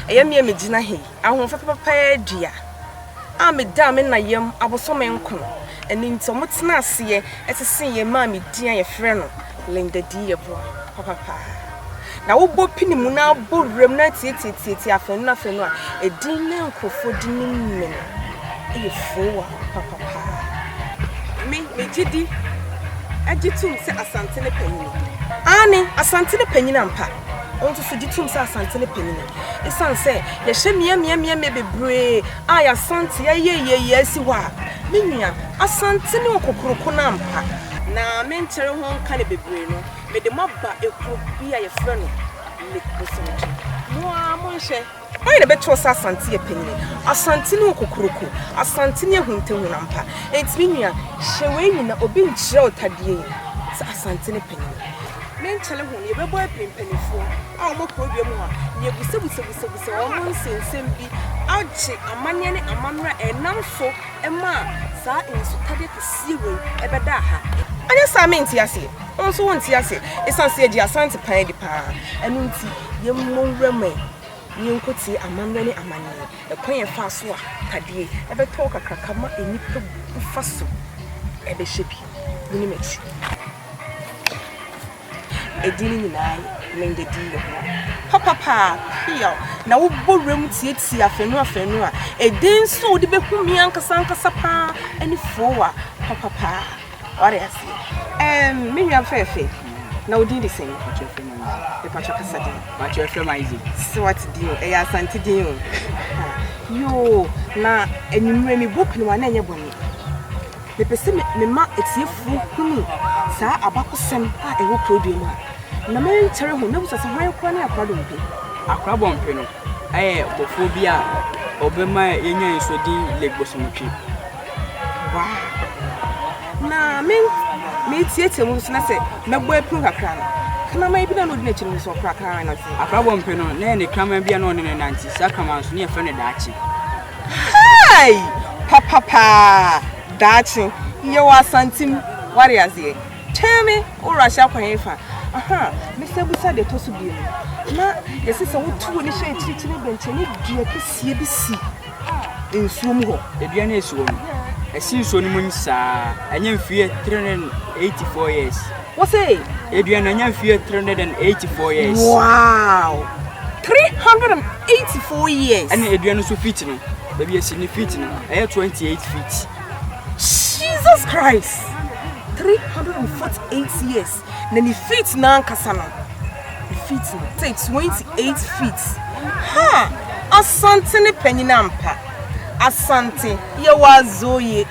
Ɛyɛ me a megyina ha yi, ahoɔfɛ papapaa dua a medaa me na yam abosome nkron, ɛno nti wɔtena aseɛ sesee yɛn maa me din a yɛfrɛ no Linda D. Yeboah papapaa. Na wobɔ pini mu na abɔ wuram na atiatiatiatia afanu no afanu a, edin na nkurɔfoɔ de nim me no yɛ Fowa papapaa. Me, megye di gye tom sɛ Asante ne panyini. Aane, Asante ne panyini ampa. Wo nso so gye tom sɛ Asante no panyin no. Esiane sɛ yɛhyɛ mmeaemmeaemmeae bebree a Asante ayɛ yieyie asi hɔ a, me nua, Asante ne okokuroko no ampa. Na menkyere ho nka no bebree no, mede mo aba ekuro bi a yɛfrɛ no Lake Bosomtwe. Mo ara monhwɛ. Hwan na ɛbɛto ɔsɛ Asante yɛ panyini Asante ne wo kokoroko Asante ne ahuntahun ampa Enti me nua hyɛ wei nyina obi nkyerɛ wo tadeɛ yi Sɛ Asante ne panyini Me nkyɛle ho no yɛbɛbɔ apiri mpanifoɔ a wɔn wɔ kuro dua mu ha na yɛbusabusabusabusabusɛ wɔn nsɛnsɛm bi agye amaneɛ ne amammerɛ a ɛnam so maa saa nsutadeɛ kɛseɛ wei bɛdaa ha Anyɛ saa a me nte aseɛ. Wo nso wo nte ase ɛsiane sɛ yɛgye Asante pan di paa ɛno nti yɛmmɔ nwura mu ɛ na yɛnkɔ tie amammerɛ ne amaneɛ ɛkwan yɛ faa so a tadeɛ ɛbɛtɔ wo kakraka ma nnipa bu fa so ɛbɛhyɛ bi mu ne m'akyi ɛdin no nyinaa yɛ Linda di yɛ ho papa paa pia na wobɔ wura mu tietie afɛnu afɛnu a ɛdin nso wode bɛhu me ankasa ankasa paa ɛne foo a papa paa Wate aseɛ ɛɛm me nua fɛɛfɛ na wo din de sɛn? Mpakyɛ frɛ ma Isaac. Mepakyɛ kasa din. Mpakyɛ frɛ ma Isaac. Sɛ wate din o ɛyɛ asante din o. Yoo na anwummerɛ me bɔ piniwa na ɛnyɛ bɔne. Mepɛ sɛ mema atiefoɔ hunu saa abakɔsɛm a ɛwɔ Kurodua mu a na me nkyɛre ho na bisa sɛ hwan kora ne Akora Dompe? Akora Bɔmpe no ɛyɛ bɔfoɔ bi a ɔbɛma yɛnya nsuo din Lake Bosomotwe. Wow. Na me metietie mu nso na sɛ mɛbɔ apiro kakra no kraman bi na na ɔdi n'akyi no nso ɔkora kraman no ase. Abrabɔ mpɛ no na ɛne kraman bi a na ɔne no nante saa kraman nso ne yɛfrɛ no daakye. Hai! Papapaa! Daakye yɛwɔ asantim ware aseɛ. Kyɛn me wowɔ ahyɛ akwan yi fa. Aha, mesɛ busa deɛ ɛtɔ so bio. Na yɛsɛ sɛ wotu wo ne hyɛ akyirikyiri bɛnkyɛne dua kɛseɛ bi si. nsuo mu hɔ. Dua no a ɛsi hɔ no, ɛsi nsuo no mu nyisaa. Ɛnyɛ mfeɛ 384 years. Wose? Dua no ɛnyɛ mfeɛ 384 years. Wow! 384 years. Ɛne dua no so feet no, baabi ɛsi ne feet no, ɛyɛ 28 feet. Jesus Christ! 348 years. Na ne feet no ankasa no, ne feet no te 28 feet. Ha! Asante ne panyin ampa. Asante, yɛwɔ adzoye.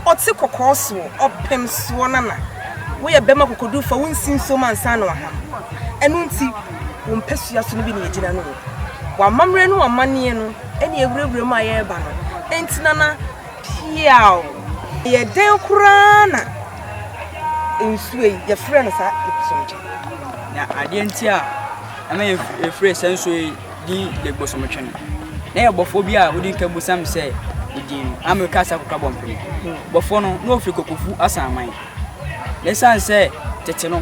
Ɔtse kɔkɔɔ soɔ, ɔpem soɔ nana. Woyɛ bɛma kokodurufo a, wonsi nsuom ansa na waham. Ɛno nti, wo mpasua so no bi na yɛgyina no o. W'amammerɛ ne w'amanneɛ no na yɛwurawura mu a yɛreba no. Enti nana, Piaw! Ɛyɛ dɛn koraa na nsuo yi, yɛfrɛ no saa Legbosomtwe? Na adeɛ nti a ɛma yɛfrɛ saa nsuo yi din Legbosomtwe no, na yɛ bɔfoɔ bi a wodi nka busam sɛ edin no, ama meka sɛ akokora bɔmpene. Bɔfoɔ no, na ɔfiri Kokofu Asanman. Na ɛsiane sɛ tete no,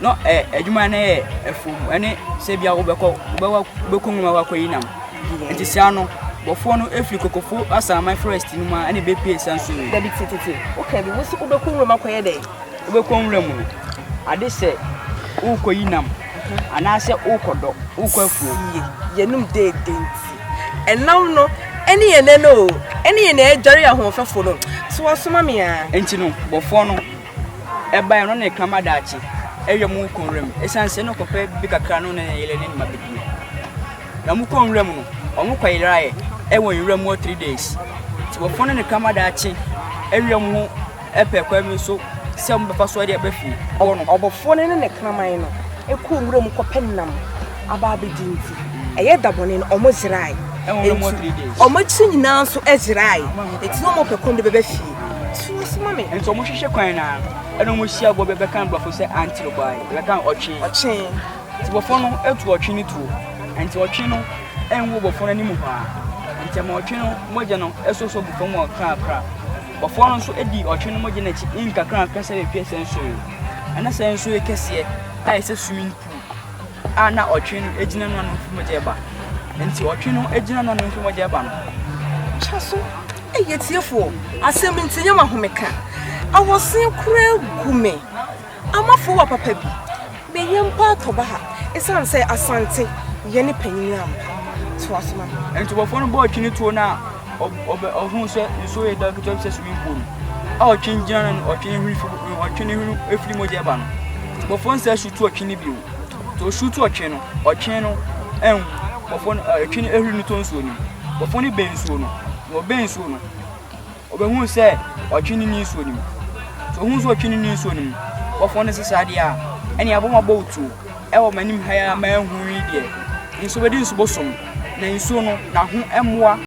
na ɛ adwuma no yɛ afuom ne sɛ bia wobɛkɔ wobɛkɔ nwuma wakɔyi nam nti saa no bɔfoɔ no ɛfiri kokofo asaman forest no mu a ɛne bɛpie sa nsuo yi dabi tititi woka bi wosi wobɛkɔ nwura mu akɔyɛ dɛn wobɛkɔ nwura mu no ade sɛ wokɔyi nam anaasɛ wokɔdɔ wokɔ afuo yɛnom deede nti ɛnam no ɛne yɛn nɛ no ɛne yɛn nɛ adware ahoɔfɛfo no so wɔsoma me a nti no bɔfoɔ no ɛbaeɛ no, ɔne ne kraman daakye awia mu rekɔ nwura mu. Ɛsiane sɛ na ɔkɔpɛ biribi kakra no ne ne yere ne ne mma bɛdi no. Na wɔkɔ nwura mu no, wɔn kɔ yeraeɛ ɛwɔ nwura mu wɔ three days. Nti wɔfɔn ne ne kraman daakye awia mu ho ɛpɛ kwan bi so sɛ wɔn bɛfa so ɛde ɛbɛ fie. Wɔ no, ɔbɔfoɔ no ne ne kraman no ɛkɔ nwura mu kɔpɛ nam aba abɛdi nti ɛyɛ da bɔne no wɔn zerae. Ɛwɔ nwura mu wɔ three days. Wɔn akyiri nyinaa nso ɛzerae. Ɛti na wɔn pɛ kwan de bɛbɛ fie. So wasoma me? Nti ɔmo hwehwɛ kwan na ɛna ɔmo hyia bɔ bi bɛka nbrɔfo sɛ antere bɔ ayɛ bɛka ɔtwe. Ɔtwe. Nti bɔfo no etu ɔtwe no tuo. Nti ɔtwe no ɛnwo bɔfo no anim hɔ a. Nti ɛma ɔtwe no mogya no ɛsosɔ gu fam kakra. Bɔfo no nso edi ɔtwe no mogya no akyi nkakra nkakra sɛ bepie sɛ nsoe. Ɛna sɛ nsoe kɛseɛ a ɛsɛ swimming pool. a na ɔtwe no gyina no ano mfi mogya ba nti ɔtwe no gyina no ano mfi mogya ba no kyɛ so ɛyɛ tiefoɔ asɛm nti nyɛ ma home ka awɔsen koraa gu me amafo wa papa bi meyɛ mpa atɔ ba ha ɛsiane sɛ asante yɛ ne panyini ampa toa so ma no ntobɔfoɔ no bɔɔ twene tuo no a ɔhuu sɛ nsuo yɛ dɔ ketewa bi sɛ swimming pool a ɔtwe gyina no no ɔtwe ne hwene firi ɔtwe ne hwene efiri mogya ɛba no bɔfoɔ nsɛ su tu ɔtwe ne bio to su tu ɔtwe no ɔtwe no ɛnwu bɔfoɔ no ɛtwe no ehuri no to nsuo no bɔfoɔ no bɛn nsuo no na ɔbɛn nsuo no ɔbɛhu sɛ ɔtwe ne ni nsuo no mu to ohun sɛ ɔtwe ne ni nsuo no mu bɔfoɔ no sesa adeɛ a ɛne abɔmabɔ otuo Ɛwɔ m'anim ha yi ara manhu yi deɛ. Nsuo bɛdi nsu bosom, na nsuo no, n'aho mmoa.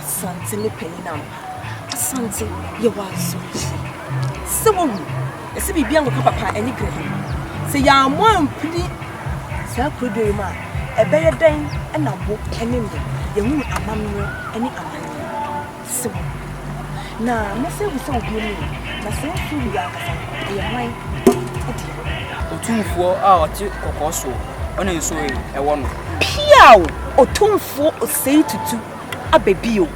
Asante ne panyin ampa. Asante, yɛ wɔ asoɔkye. Sɛ wawu, ɛsɛ biribiara nkɔka papa ɛne Greville. Sɛ yɛammɔ ampini saa kuroduo yi mu a, ɛbɛyɛ dɛn na wo ne me yɛahunu amammerɛ ne amanneɛ? Sɛ wawu. Na mese ahu sɛ obi ani ye, na saa nsu no yɛ ankasa no, ɛyɛ hwan dea? Otumfoɔ a ɔte kɔkɔɔ soɔ, ɔne nsuo he ɛwɔ no. Piaw! Otumfoɔ Osei Tutu aba bio,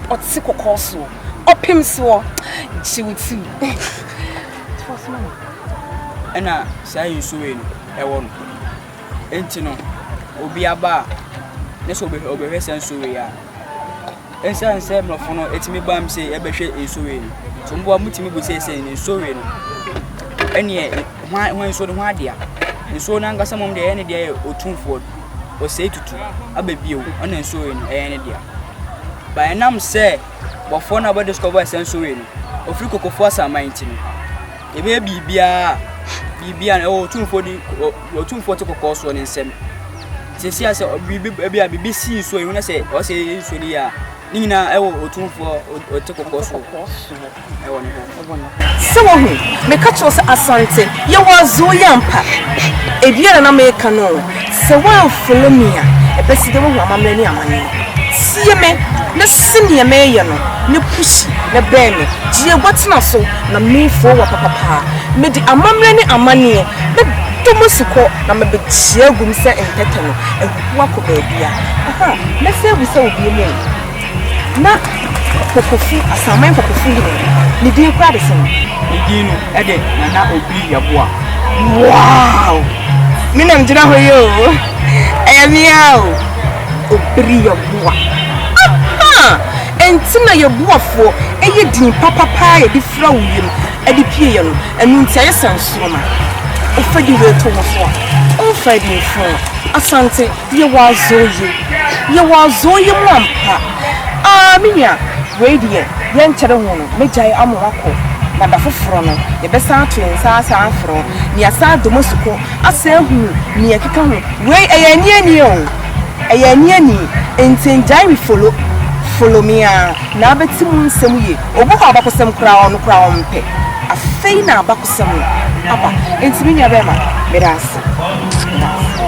ɔte kɔkɔɔ soɔ, ɔpem soɔ, gye wo ti mu. Toa so ma me. Ɛna saa he nsuo he no ɛwɔ no. Nti no, obi aba a, ne sɛ ɔbɛhwɛ saa nsuo he a. Esiane sɛ mmorɔfo no tumi bam sɛ yɛbɛhwɛ nsowee no nti, mmoa mutumi bu sɛ sɛ nsowee no ɛneɛ hwan hwan nsuo no ho adea. Nsuo no ankasa mmom deɛ ɛyɛ ne deɛ yɛ otumfoɔ no. Ɔsɛe tutu aba bio ɛna nsowee no ɛyɛ ne dea. Ba ɛnam sɛ bɔfoɔ no a ɔbɛ discover sɛ nsowee no ɔfiri kokofoɔ asaman nti no, yɛbɛyɛ biribiara biribiara no ɛwɔ otumfoɔ di deɛ ɔtumfoɔ te kɔkɔɔ soɔ ne nsɛm sɛsi a sɛ biribi ebi a biribi si nsuo yi ho na sɛ ɔsɛ yɛyɛ nsuo no yɛ a ne nyinaa ɛwɔ ɔtumfoɔ ɔte kɔkɔɔ soɔ ɛwɔ ne ho sɛ wahu meka kyerɛw sɛ asante yɛwɔ azoo yɛ ampa ebia na na meka no sɛ woamfolo me a ɛbɛsi dɛ woahu amammerɛ ne amane tie me na si neɛ meyɛ no ne pushi na bɛn me gyeɛ gua tena so Na mefua wa papapaa. Mede amammerɛ ne amanneɛ bɛdɔ mo asukɔ na mɛbɛkyia agu mo sɛ ntɛtɛ no ahuhuo akɔ baabia. Aha, mɛsan abisa wo bio mu o, na Pokofu, Asaman Pokofu yi he, ne din koraa de sɛn? Ne din no de Nana Obiri Yaboa. Wow! Me na megyina hɔ yi o, ɛyɛ me ara o. Obiri Yaboa. Aha! Enti na yɛ boafoɔ yɛ din papa paa a yɛde fira wo wiem de pie yɛ no, ɛno nti ayɛ sɛ nsoroma. Wofa di wei to wo so a, womfae bi mfra wo. Asante, yɛ wɔ azɔn yi mu, yɛ wɔ azɔn yi mu ampa. Aa me nua, wei deɛ yɛnkyɛre ho no, mɛgyae ama woakɔ, na da foforɔ no, yɛbɛsan ato yɛn nsa asan afrɛ wo, na yɛasan adɔ mo asukɔ, asan ahunu nea ɛkeka ho. Wei, ɛyɛ anianie o! Ɛyɛ ani ani nti ngyae me follow follow me aa na abɛte mu nsɛm yie obi hɔ a abakɔsɛm koraa ɔno koraa ɔmpɛ afei na abakɔsɛm no aba nti me nua bɛɛma medaase medaase.